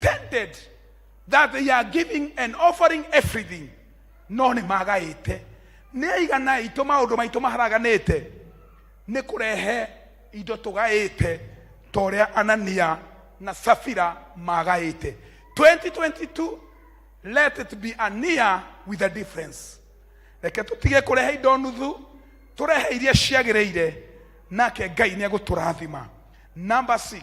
pretended that they are giving and offering everything no nĩ magaĩte nĩ aigana aitũ maũndũ maitũ maharaganĩte nĩ kũrehe indo tũgaĩte ta ũrĩa anania na safira magaĩte 2022 let it be a near with a difference reke tũtige kũrehe indo nuthu tũrehe iria ciagĩrĩire nake ngai nĩ egũtũrathima number 6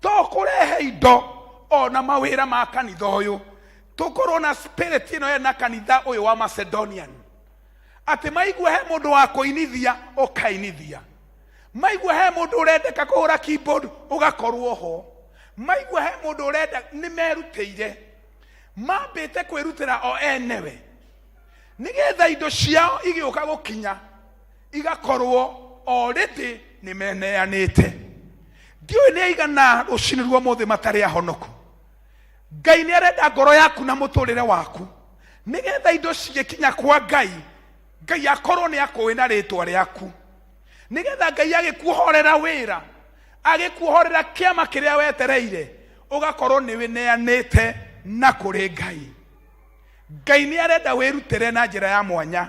to kũrehe indo ona mawĩra ma kanitha ũyũ tũkorwo na spirit ĩno ya na kanitha ũyũ wa macedonian atĩ maigua he mũndũ wa kũinithia ũkainithia maigua he mũndũ ũrendeka kũhũra keyboard ũgakorwo ho maigua he mũndũ ũrenda nĩ merutĩire mambĩte kwĩrutĩra o enewe nĩgetha indo ciao igĩũka gũkinya igakorwo already nĩ meneanĩte ndiũĩ nĩ aigana rũcinĩ ruo mũthĩ matarĩ ahonoku ngai nĩ arenda ngoro yaku na mũtũrĩre waku nĩgetha indo cigĩkinya kwa ngai ngai akorwo nĩ akũĩ na rĩtwa rĩaku nĩgetha ngai agĩkuohorera wĩra agĩkuohorera kĩama kĩrĩa wetereire ũgakorwo nĩ wĩneanĩte na kũrĩ ngai ngai nĩ arenda wĩrutĩre na njĩra ya mwanya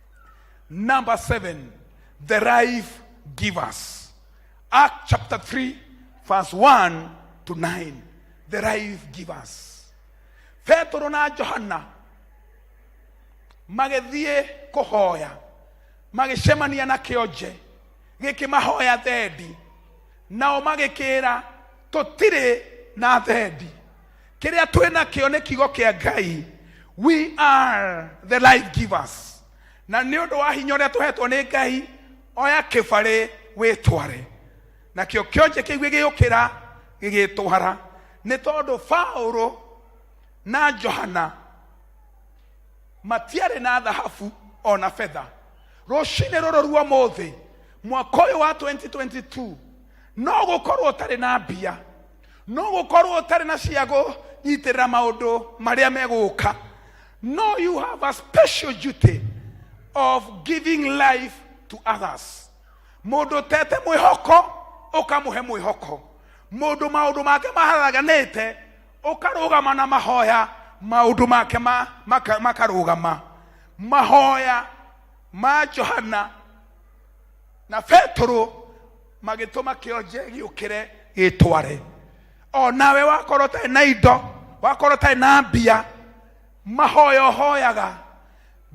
Number seven, the life givers. Act chapter 3, verse 1 to 9. The life givers. Petero na Johanna magĩthiĩ kũhoya magĩcemania na kĩonje gĩkĩmahoya thendi nao magĩkĩra tũtirĩ na thendi kĩrĩa twĩ nakĩo nĩ kiugo kĩa ngai we are the life givers na nĩ ũndũ wa hinya ũrĩa tũhetwo nĩ ngai oya kĩbarĩ wĩtware nakĩo kĩonje kĩu gĩgĩũkĩra gĩgĩtwara nĩ tondũ paũlũ na johana matiarĩ na thahabu o na betha rũcinĩ rũrũ rwa mũthĩ mwaka ũyũ wa 2022 no gũkorwo ũtarĩ na mbia no gũkorwo ũtarĩ na cia gũnyitĩrĩra maũndũ marĩa megũka no you have a special duty of giving life to others mũndũ ũtete mwĩhoko ũkamũhe mwĩhoko mũndũ maũndũ make maharaganĩte ũkarũgama na mahoya maũndũ make ma- maka- makarũgama mahoya ma johana na petero magĩtũma kĩonje gĩũkĩre gĩtware o nawe wakorwo ũtarĩ na indo wakorwo ũtarĩ na mbia mahoya ũhoyaga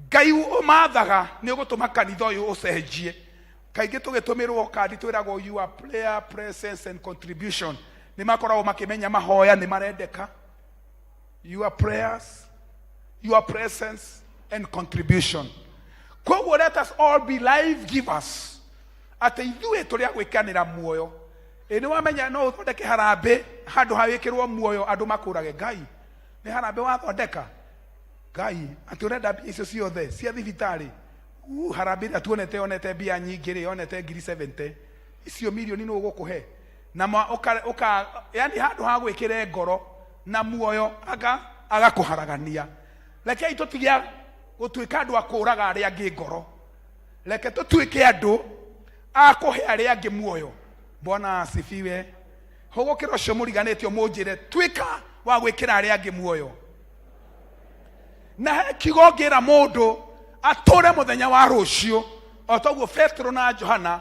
ngai ũmathaga nĩ ũgũtũma kanitha ũyũ ũcenjie kaingĩ tũgĩtũmĩrwo kandi twĩragwo you are prayer presence and contribution nĩ makoragwo makĩmenya mahoya nĩ marendeka your prayers, your presence, and contribution. Koguo let us all be life givers. Atĩ ithuĩ tũrĩa gwĩkanĩra muoyo. Ĩ nĩ wamenya no ũthondeke harambĩ handũ ha wĩkĩrwo muoyo andũ makũrage Ngai. Nĩ harambĩ wathondeka Ngai atĩ ũrenda mbia icio ciothe cia thibitarĩ. Uu, harambĩ ĩrĩa tuonete yonete mbia nyingĩ rĩ yonete ngiri 70. Icio milioni nĩ ũgũkũhe. na ma- ũka- ũka- yani handũ ha gwĩkĩre ngoro na muoyo aga- agakũharagania rekei tũtige gũtuĩka andũ a kũũraga arĩa angĩ ngoro reke tũtuĩke andũ a kũhe arĩa angĩ muoyo bwana asifiwe hũgũkĩra ũcio mũriganĩtio mũnjĩre tuĩka wa gwĩkĩra arĩa angĩ muoyo na he kiugo ngĩra mũndũ atũre mũthenya wa rũciũ o toguo petero na johana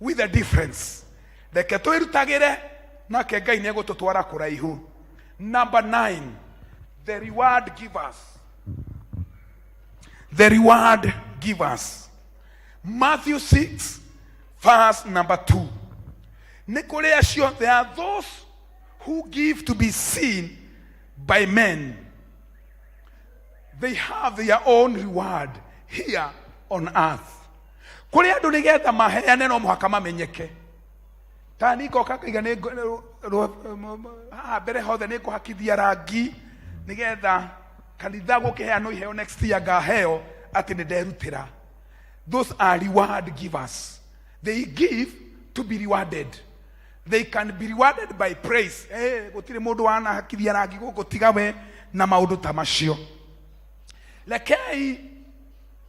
with a difference reke twĩrutagĩre nake ngai nĩ egũtũtwara kũraihu number nine the reward givers the reward givers matthew 6 verse number 2 nĩ kũrĩ acio there are those who give to be seen by men they have their own reward here on earth kũrĩ andũ nĩ getha maheane no mũhaka mamenyeke ta nĩ ngoka ngaiga nĩ ngo- rũ- rũ- m- m- haha mbere hothe nĩ ngũhakithia rangi nĩ getha kanitha gũkĩheanwo iheo next year ngaheo atĩ nĩ nderutĩra those are reward givers they give to be rewarded they can be rewarded by praise hey, gũtirĩ mũndũ wanahakithia rangi gũkũ tiga we na maũndũ ta macio rekei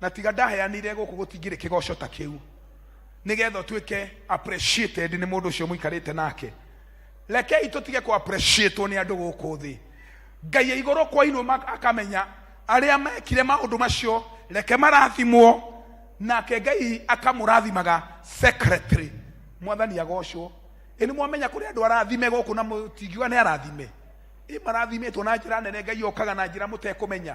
na tiga ndaheanire gũkũ gũtingĩrĩ kĩgoco ta kĩu nĩgetha ũtuĩke appreciated nĩ mũndũ ũcio mũikarĩte nake rekei tũtige kũ appreciatwo nĩ andũ gũkũ thĩ ngai ya igũrũ kwa iruo ma- akamenya arĩa mekire maũndũ macio reke marathimwo nake ngai akamũrathimaga secretary mwathani agocwo ĩ nĩ mwamenya kũrĩ andũ arathime gũkũ na mũtingiuga nĩ arathime ĩ marathimĩtwo na njĩra nene ngai okaga na njĩra mũtekũmenya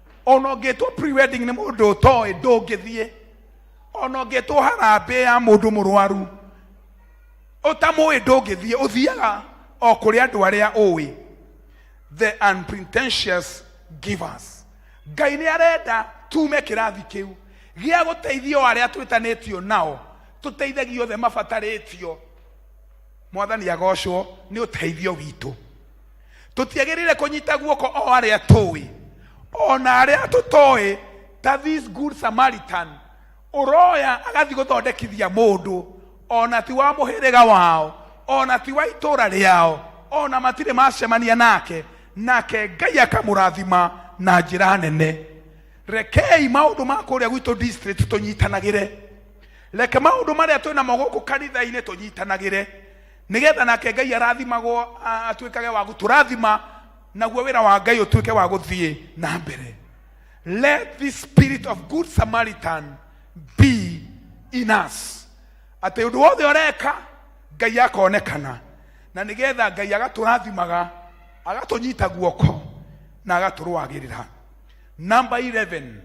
ona ũngĩtwo pre-wedding nĩ mũndũ ũtoĩ ndũngĩthiĩ ona ũngĩtwo harambĩ ya mũndũ mũrwaru ũtamũĩ ndũngĩthiĩ ũthiaga o kũrĩ andũ arĩa ũĩ the unpretentious givers ngai nĩ arenda tume kĩrathi kĩu gĩa gũteithia o arĩa twĩtanĩtio nao tũteithagia othe mabatarĩtio mwathani agocwo nĩ ũteithio witũ tũtiagĩrĩire kũnyita guoko o arĩa tũĩ o na arĩa tũtoĩ ta this good samaritan ũroya agathiĩ gũthondekithia mũndũ o na ti wa mũhĩrĩga wao o na ti wa itũũra rĩao o na matirĩ macemania nake nake ngai akamũrathima na njĩra nene rekei maũndũ ma kũrĩa gwitũ district tũnyitanagĩre reke maũndũ marĩa twĩ namo gũkũ kanitha-inĩ tũnyitanagĩre nĩgetha nake ngai arathimagwo a- atuĩkage wa gũtũrathima naguo wĩra wa ngai ũtuĩke wa gũthiĩ na mbere let this spirit of good samaritan be in us atĩ ũndũ wothe ũreka ngai akonekana na nĩgetha ngai agatũrathimaga agatũnyita guoko na agatũrũagĩrĩra number 11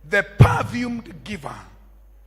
the perfumed giver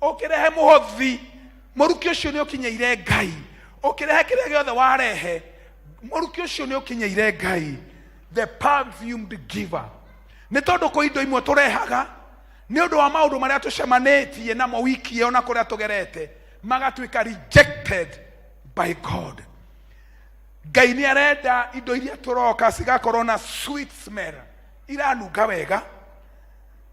ũkĩrehe mũhothi mũrukĩ ũcio nĩ ũkinyĩire ngai ũkĩrehe kĩrĩa gĩothe warehe mũrukĩ ũcio nĩ ũkinyĩire ngai the perfumed giver nĩ tondũ kwĩ indo imwe tũrehaga nĩ ũndũ wa maũndũ marĩa tũcemanĩtie namo wiki ĩyo na kũrĩa tũgerete magatuĩka rejected by god ngai nĩ arenda indo iria tũroka cigakorwo na sweet smell iranunga wega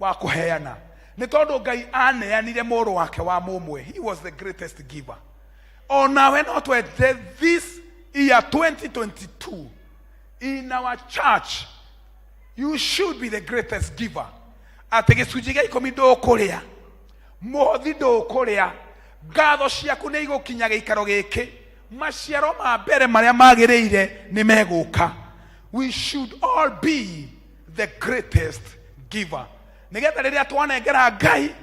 wa kũheana nĩ tondũ ngai aneanire mũrũ wake wa mũmwe he was the greatest giver o nawe no twende this year 2022 in our church you should be the greatest giver atĩ gĩcunjĩ gĩa ikũmi ndũkũrĩa mũhothi ndũkũrĩa ngatho ciaku nĩ igũkinya gĩikaro gĩkĩ maciaro ma mbere marĩa magĩrĩire nĩ megũka we should all be the greatest giver nigetha riria twanengera ngai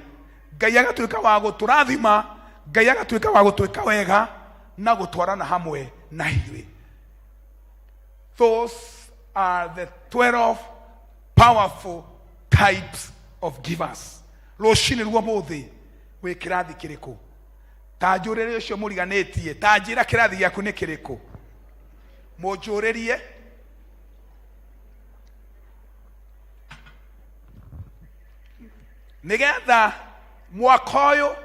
ngai agatuika wa guturathima ngai agatuika wa gutwika wega na gutwarana hamwe na ithuĩ those are the 12 powerful types of givers rũcinĩ ruo mũthĩ wĩ kĩrathi kĩrĩkũ ta njũrĩrĩ ũcio mũriganĩtie ta njĩra kĩrathi gĩaku nĩ kĩrĩkũ mũnjũrĩrie nigetha mwaka ũyũ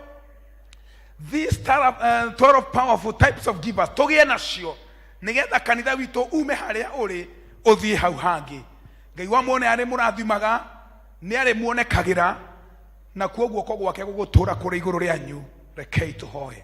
these tara- eh, 12 powerful types of givers tũgĩe nacio nigetha kanitha witũ ume harĩa ũrĩ ũthiĩ hau hangĩ ngai wa muone arĩ mũrathimaga nĩ arĩ muonekagĩra na kuo guoko gwake gũgũtũra kũrĩ igũrũ rĩanyu rekei tũhoe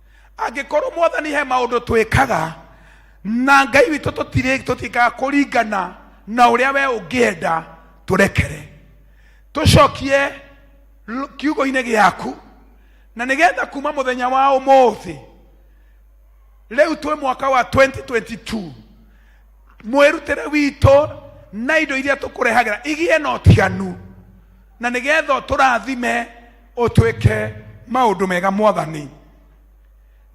angĩkorwo mwathani he maũndũ twĩkaga na ngai witũ tũtirĩ- tũtiĩkaga kũringana na ũrĩa we ũngĩenda tũrekere tũcokie l- kiugo-inĩ gĩaku na nĩgetha kuma mũthenya wa ũmũthĩ rĩu twĩ mwaka wa 2022 mwĩrutĩre witũ na indo iria tũkũrehagĩra igĩe na ũtiganu na nĩgetha ũtũrathime ũtwĩke maũndũ mega mwathani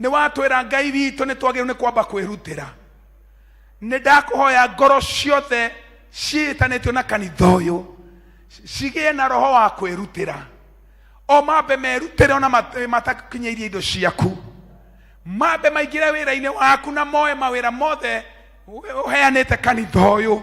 nĩ watwĩra ngai witũ nĩ twagĩrĩirwo nĩ kwamba kwĩrutĩra nĩ ndakũhoya ngoro ciothe ciĩtanĩtio na kanitha ũyũ cigĩe na roho wa kwĩrutĩra o mambe merutĩre ona mat- matakinyĩirie indo ciaku mambe maingĩre wĩra-inĩ waku na moe mawĩra mothe ũheanĩte kanitha ũyũ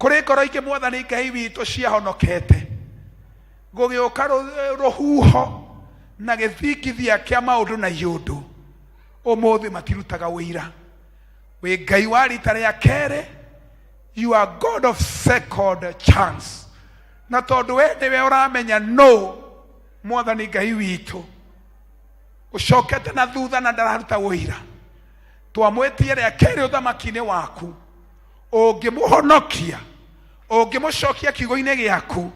kũrĩ ngoro ingĩ mwathani ngai witũ ciahonokete gũgĩũka rũ- rũhuho na gĩthingithia kĩa maũndũ na iũndũ ũmũthĩ matirutaga ũira wĩ ngai wa rita rĩa kerĩ you are god of second chance na tondũ we nĩwe ũramenya no mwathani ngai witũ ũcokete na thutha na ndararuta ũira twamwĩtie rĩa kerĩ ũthamaki-inĩ waku ũngĩmũhonokia ũngĩmũcokia kiugo-inĩ gĩaku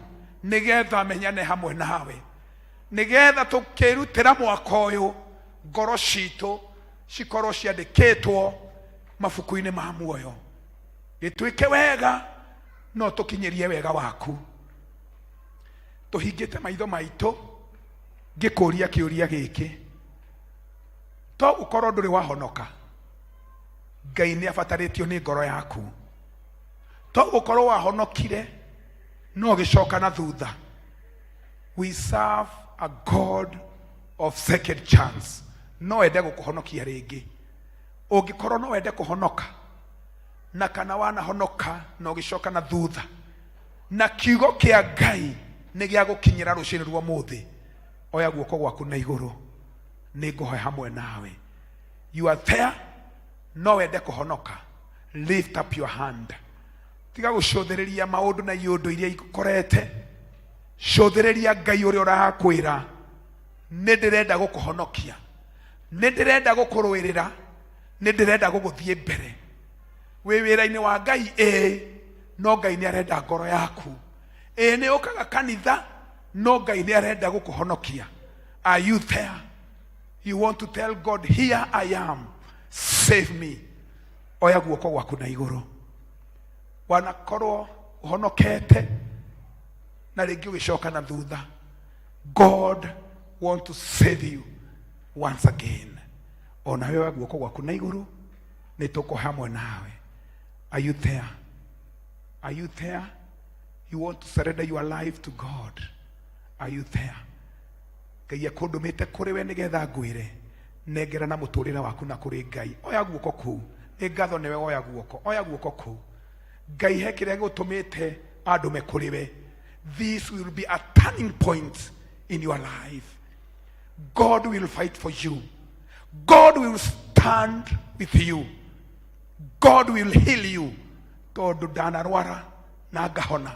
nĩgetha amenyane hamwe nawe nĩgetha tũkĩrutĩra mwaka ũyũ ngoro citũ cikorwo ciandĩkĩtwo mabuku-inĩ ma muoyo gĩtuĩke wega no tũkinyĩrie wega waku tũhingĩte maitho maitũ ngĩkũria kĩũria gĩkĩ to ũkorwo ndũrĩ wahonoka ngai nĩ abatarĩtio nĩ ngoro yaku to gũkorwo wahonokire no gĩcoka na thutha we serve a god of second chance no ende gũkũhonokia rĩngĩ ũngĩkorwo no wende kũhonoka na kana wanahonoka na ũgĩcoka na thutha na kiugo kĩa ngai nĩ gĩa gũkinyĩra rũcinĩ rwa mũthĩ oya guoko gwaku na igũrũ nĩ ngũhoya hamwe nawe you are there no wende kũhonoka lift up your hand tiga gũcũthĩrĩria maũndũ na iũndũ iria ikũkorete cũthĩrĩria ngai ũrĩa ũrakwĩra nĩ ndĩrenda gũkũhonokia nĩ ndĩrenda gũkũrũĩrĩra nĩ ndĩrenda gũgũthiĩ mbere wĩ wĩra-inĩ wa ngai ĩĩ no ngai nĩ arenda ngoro yaku ĩĩ nĩ ũkaga kanitha no ngai nĩ arenda gũkũhonokia are you there you want to tell god here i am save me oya guoko gwaku na igũrũ wanakorwo ũhonokete na rĩngĩ ũgĩcoka na thutha god want to save you once again ona wewe guoko gwaku na igũrũ nĩ tũko hamwe nawe are you there are you there you want to surrender your life to god are you there ngai ekũndũmĩte kũrĩ we nĩgetha ngwĩre nengera na mũtũrĩre waku na kũrĩ ngai oya guoko kũu nĩ ngatho nĩwe woya guoko oya guoko kũu ngai he kĩrĩa gĩgũtũmĩte andũme kũrĩ we this will be a turning point in your life god will fight for you god will stand with you god will heal you tondũ ndanarwara na ngahona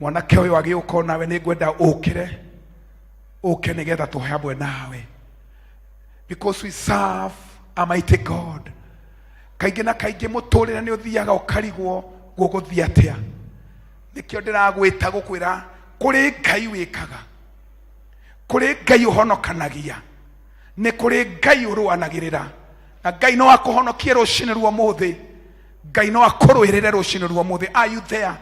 mwanake ũyũ agĩũka o nawe nĩngwenda ũkĩre ũke nĩgetha tũhe hamwe nawe because we serve a mighty god kaingĩ na kaingĩ mũtũrĩre nĩ ũthiaga ũkarigwo gũgũthiĩ atĩa nĩkĩo ndĩragwĩta gũkwĩra kũrĩ ngai wĩkaga kũrĩ ngai ũhonokanagia nĩ kũrĩ ngai ũrũanagĩrĩra na ngai no akũhonokie rũcinĩ rwa mũthĩ ngai no akũrũĩrĩre rũcinĩ rwa mũthĩ are you there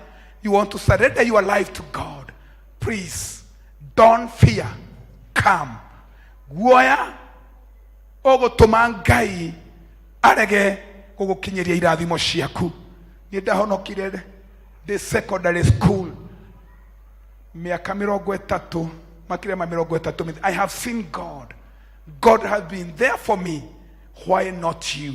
you want to surrender your life to god please don't fear come guoya ũgũtũma ngai arege gũgũkinyĩria irathimo ciaku nĩ ndahonokire ndĩ secondary school miaka mirongo ĩtatũ makĩria ma mirongo ĩtatũ mĩthe- i have seen god god has been there for me why not you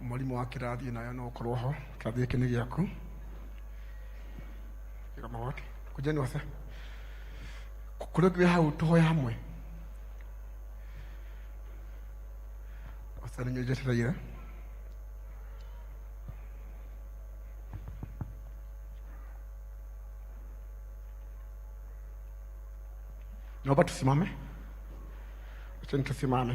mwarimũ wa kĩrathi nayo no ũkorwo ho kĩrathi gĩkĩ nĩ gĩaku Ĩga magoti kũnjani wase kũrĩ ũngĩ wĩ hau tũhoya hamwe wasa nĩnyuo njetereire naomba tusimame acheni tusimame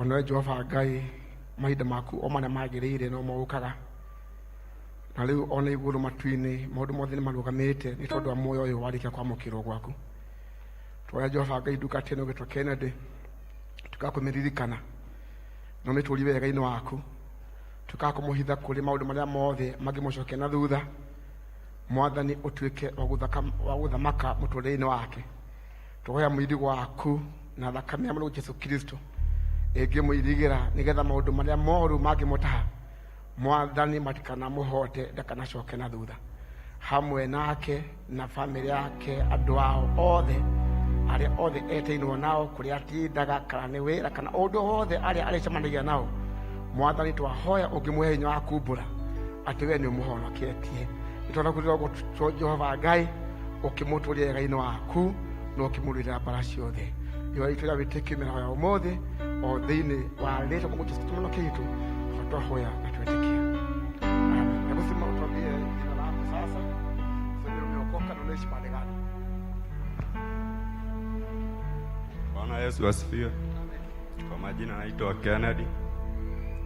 onawe jehova ngai mahinda maku o marĩa magĩrĩire no mogũkaga na rĩu ona igũrũ matu-inĩ maũndũ mothe nĩ marũgamĩte nĩ tondũ wa muoyo ũyũ warĩkia kwamũkĩrwo gwaku twoya jehova ngai nduka tene ũgĩtwo kennedy tukakũmĩririkana no nĩ tũri wega-inĩ waku tukakũmũhitha kũrĩ maũndũ marĩa mothe mangĩmũcokia na thutha mwathani ũtuĩke wa gũthaka- wa gũthamaka mũtũrĩre-inĩ wake twoya mwĩrĩ waku na thakame ya mũrũ jesu kristo ĩngĩmũirigĩra nĩgetha maũndũ marĩa moru mangĩmũtaha mwathani matikanamũhote ndakanacoke na thutha hamwe nake na bamĩrĩ yake andũ ao othe arĩa othe eteinwo nao kũrĩa atindaga kana nĩ wĩra kana ũndũ wothe arĩa arĩcemanagia nao mwathani twahoya ũngĩmũhe hinya wa kumbũra atĩ we nĩ ũmũhonoketie nĩ tondũ kũrĩa ũguo jehova ngai ũkĩmũtũria wega-inĩ waku na ũkĩmũrũĩrĩra mbara ciothe iwa itũ rĩa wĩtĩkio mĩraho ya ũmũthĩ o thĩinĩ wa rĩtwa kwa Jesu Kristo kĩitũ twahoya na twĩtĩkia Amen. Hebu simama utuambie jina lako sasa useme umeokoka na unaishi mahali gani Bwana Yesu asifiwe. Kwa majina naitwa Kennedy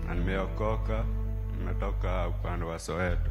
na nimeokoka, nimetoka upande wa Soweto.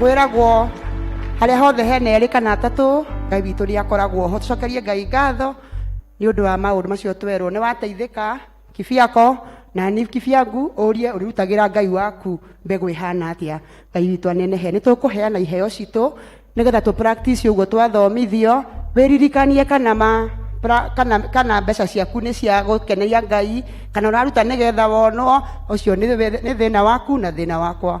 kwĩragwo harĩa hothe hena erĩ kana atatũ ngai witũ nĩ akoragwo ho tũcokerie ngai ngatho nĩ ũndũ wa maũndũ macio twerwo nĩ wateithĩka kibiako na ni kibiangu ũrie ũrĩrutagĩra ngai waku mbegũ ĩhana atĩa ngai witũ anenehe nĩ tũkũheana iheo citũ nĩgetha tũ practice ũguo twathomithio wĩririkanie kana ma pra- kana, kana mbeca ciaku nĩ cia gũkeneria ngai kana ũraruta nĩgetha wonwo ũcio nĩ thĩ- nĩ thĩna waku na thĩna wakwa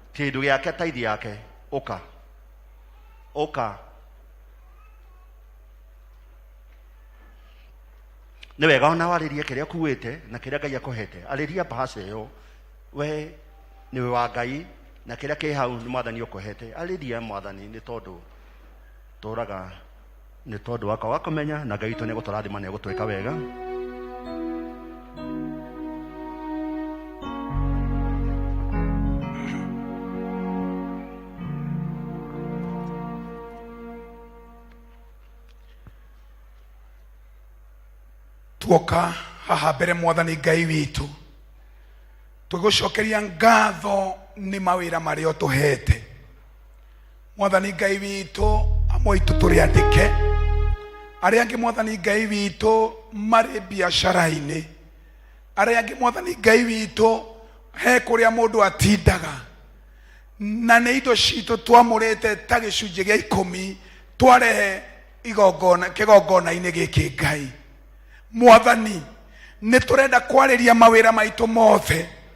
Kĩndũ gĩake taithi yake ũka ũka nĩ wega ona warĩrie kĩrĩa kuĩte na kĩrĩa ngai akũhete arĩria mbahaca ĩyo we nĩwe wa ngai na kĩrĩa kĩ hau nĩ mwathani ũkũhete arĩria mwathani nĩ tondũ tũraga nä tondå waka wa kå menya na ngai witå nä egå tå rathima nä egå twä ka wega tuoka haha mbere mwathani ngai witũ tũgũcokeria ngatho nĩ mawĩra marĩa ũtũhete mwathani ngai witũ amwe aitũ tũrĩ andĩke arĩa angĩ mwathani ngai witũ marĩ biacara-inĩ arĩa angĩ mwathani ngai witũ he kũrĩa mũndũ atindaga na nĩ indo citũ twamũrĩte ta gĩcunjĩ gĩa ikũmi twarehe igongona kĩgongona-inĩ gĩkĩ ngai mwathani nĩ tũrenda kwarĩria mawĩra maitũ mothe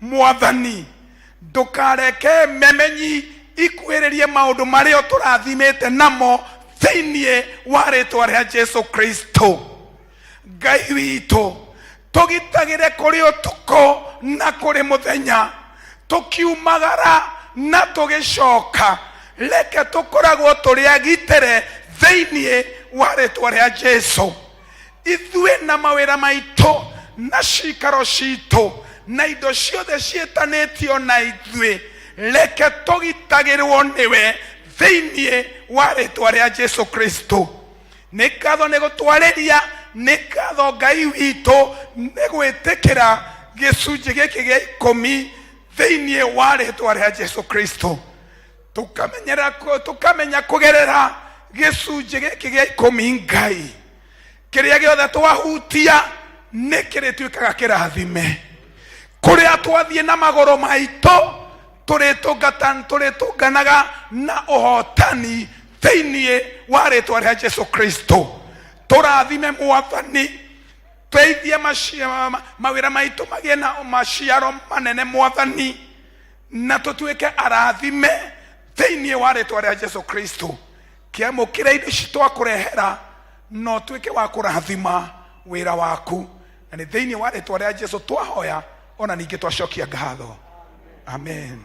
mwathani ndũkareke memenyi ikuhĩrĩrie maũndũ marĩa tũrathimĩte namo thĩinĩ wa rĩtwa rĩa jesu kristo ngai witũ tũgitagĩre kũrĩ ũtukũ na kũrĩ mũthenya tũkiumagara na tũgĩcoka reke tũkoragwo tũrĩ agitĩre thĩinĩ wa rĩtwa rĩa jesu ithuĩ na mawĩra maitũ na cikaro citũ na indo ciothe ciĩtanĩtio na ithuĩ reke tũgitagĩrwo nĩwe thĩinĩ wa rĩtwa rĩa jesu kristo nĩ ngatho nĩ gũtwarĩria nĩ ngatho ngai witũ nĩ gwĩtĩkĩra gĩcunjĩ gĩkĩ gĩa ikũmi thĩinĩ wa rĩtwa rĩa jesu kristo tũkamenyera kũ- tũkamenya kũgerera gĩcunjĩ gĩkĩ gĩa ikũmi ngai kĩrĩa gĩothe twahutia nĩ kĩrĩtuĩkaga kĩrathime kũrĩa twathiĩ na magũrũ maitũ tũrĩtũngata- tũrĩtũnganaga na ũhotani thĩinĩ wa rĩtwa rĩa jesu kristo tũrathime mwathani teithie maci- ma- mawĩra maitũ magĩe na maciaro manene mwathani na tũtuĩke arathime thĩinĩ wa rĩtwa rĩa jesu kristo kĩamũkĩra indo ici twakũrehera no tuĩke wa kũrathima wĩra waku na nĩ thĩinĩ wa rĩtwa rĩa jesu twahoya ona ningĩ twacokia ngatho amen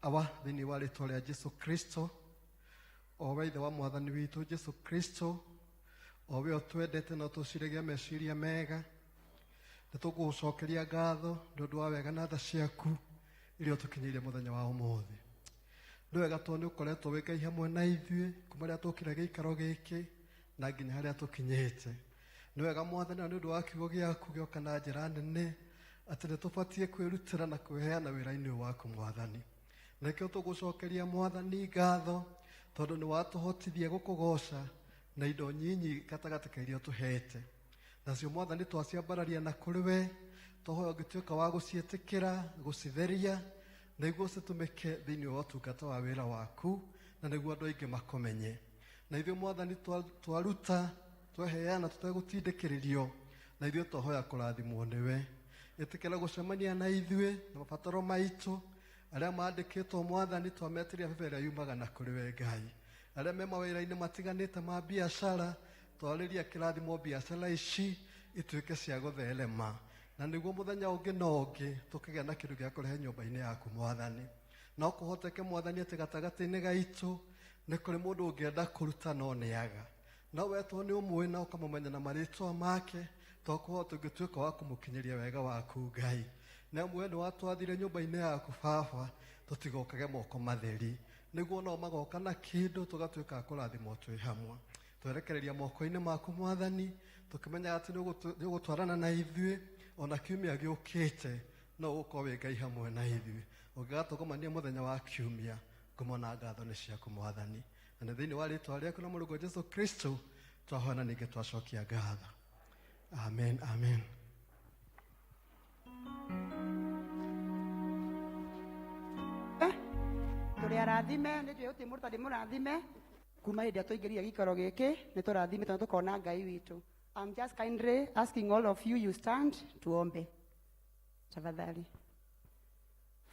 aba thĩinĩ wa rĩtwa rĩa jesu kristo o we ithe wa mwathani witũ jesu kristo o we ũtwendete na ũtũciragia meciria mega nĩ tũkũgũcokeria ngatho nĩ ũndũ wa wega na tha ciaku iria ũtũkinyĩire mũthenya wa ũmũthĩ nĩ wega tondũ nĩ ũkoretwo wĩ ngai hamwe na ithuĩ kuma rĩrĩa tũkire gĩikaro gĩkĩ na nginya harĩa tũkinyĩte nĩ wega mwathani nĩ ũndũ wa kiugo gĩaku gĩoka na njĩra nene atĩ nĩ tũbatiĩ kwĩrutĩra na kwĩheana wĩra-inĩ waku mwathani nĩkĩo tũgũcokeria mwathani ngatho tondũ nĩ watũhotithia gũkũgoca na indo nyinyi gatagatĩ ka iria tũhete nacio mwathani twaciambararia na kũrĩ we tũhoya ũngĩtuĩka wa gũciĩtĩkĩra gũcitheria nĩguo citũmĩke thĩinĩ wa ũtungata wa wĩra waku na nĩguo andũ aingĩ makomenye na ithuĩ mwathani twaruta tweheana tũtegũtindĩkĩrĩrio na ithuĩ twahoya kũrathimwo nĩwe ĩtĩkĩra gũcemania na ithuĩ na mabataro maitũ arĩa mandĩkĩtwo mwathani twametĩria bebe ĩrĩa yumaga na kũrĩ we ngai arĩa me mawĩra-inĩ matiganĩte ma biacara twarĩria kĩrathimo biacara ici ituĩke cia gũtherema na nĩguo mũthenya ũngĩ na ũngĩ tũkĩgĩa na kĩndũ gĩa kũrehe nyũmba-inĩ yaku mwathani no kũhoteke mwathani atĩ gatagatĩ-inĩ gaitũ nĩ kũrĩ mũndũ ũngĩenda kũruta no nĩaga No we tondũ nĩ ũmũĩ na ũkamũmenya na marĩtwa make twakuhoa tũngĩtuĩka wa kũmũkinyĩria wega waku ngai nĩ amu we nĩ watwathire nyũmba-inĩ yaku baba tũtigokage moko matheri nĩguo nao magoka na kĩndũ tũgatuĩka a kũrathimwo twĩ hamwe twerekereria moko-inĩ maku mwathani tũkĩmenyaga atĩ nĩ ũgũtwarana na ithuĩ ona kiumia gĩũkĩte no ũgũkorwo wĩ ngai hamwe na ithuĩ ũngĩgatũgomania mũthenya wa kiumia ngumo na ngatho nĩ ciaku mwathani na nĩ thĩinĩ wa rĩtwa rĩaku na mũrũgo jesu kristo twahona ningĩ twacokia ngatho amen amen tũrĩ arathime nĩ njũĩ gũtirĩ mũndũ tandĩ mũrathime kuma hĩndĩ ĩrĩa tũingĩrire gĩikaro gĩkĩ nĩ tũrathime tondũ tũkona ngai witũ I'm just kindly asking all of you you stand tuombe tafadhali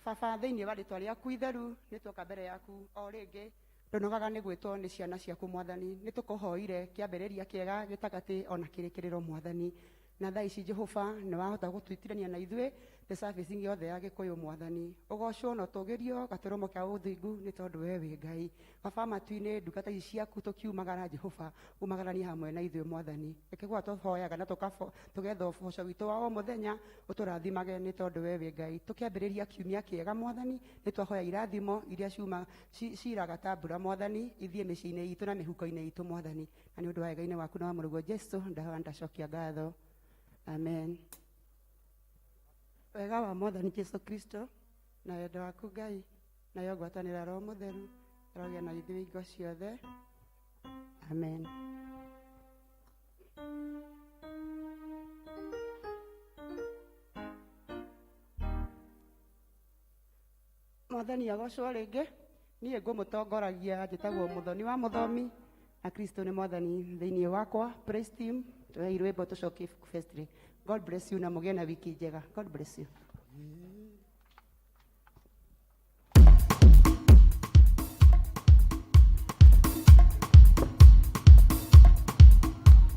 baba thĩinĩ wa rĩtwa rĩaku itheru nĩ tuoka mbere yaku o rĩngĩ Ndũnogaga nĩ gwĩtwo nĩ ciana ciaku Mwathani, nĩ tũkũhoire kĩambĩrĩria kĩega, gĩtagatĩ o na kĩrĩkĩrĩro Mwathani. Na thaa ici Jehova nĩ wahota gũtwĩtirania na ithuĩ thĩ service-inĩ yothe ya Gĩkũyũ Mwathani. Ũgocwo na ũtũgĩrio gatũrũmo ka ũthingu nĩ tondũ we wĩ Ngai. Baba matu-inĩ ndungata ici ciaku tũkiumagara Jehova umagaranie hamwe na ithuĩ Mwathani. Reke gwa tũhoyaga na tũkabo- tũgetha ũboco witũ wa o mũthenya ũtũrathimage nĩ tondũ we wĩ Ngai. Tũkĩambĩrĩria kiumia kĩega Mwathani nĩ twahoya irathimo iria ciuma Ci- ciiraga ta mbura mwathani ithiĩ mĩciĩ-inĩ itũ na mĩhuko-inĩ itũ mwathani na nĩ ũndũ wa wega-inĩ waku na wa mũrũguo jesu ndahoya ndacokia ngatho amen wega wa mwathani jesu kristo na wendo waku ngai nayo ngwatanĩra roho mũtheru ĩrogĩa na ithuĩ ingo ciothe amen mwathani agocwo rĩngĩ niĩ ngũmũtongoragia njĩtagwo mũthoni wa mũthomi na kristo nĩ mwathani thĩinĩ wakwa praise team tũhei rwĩmbo tũcokie ibuku festry god bless you na mũgĩe na wiki njega god bless you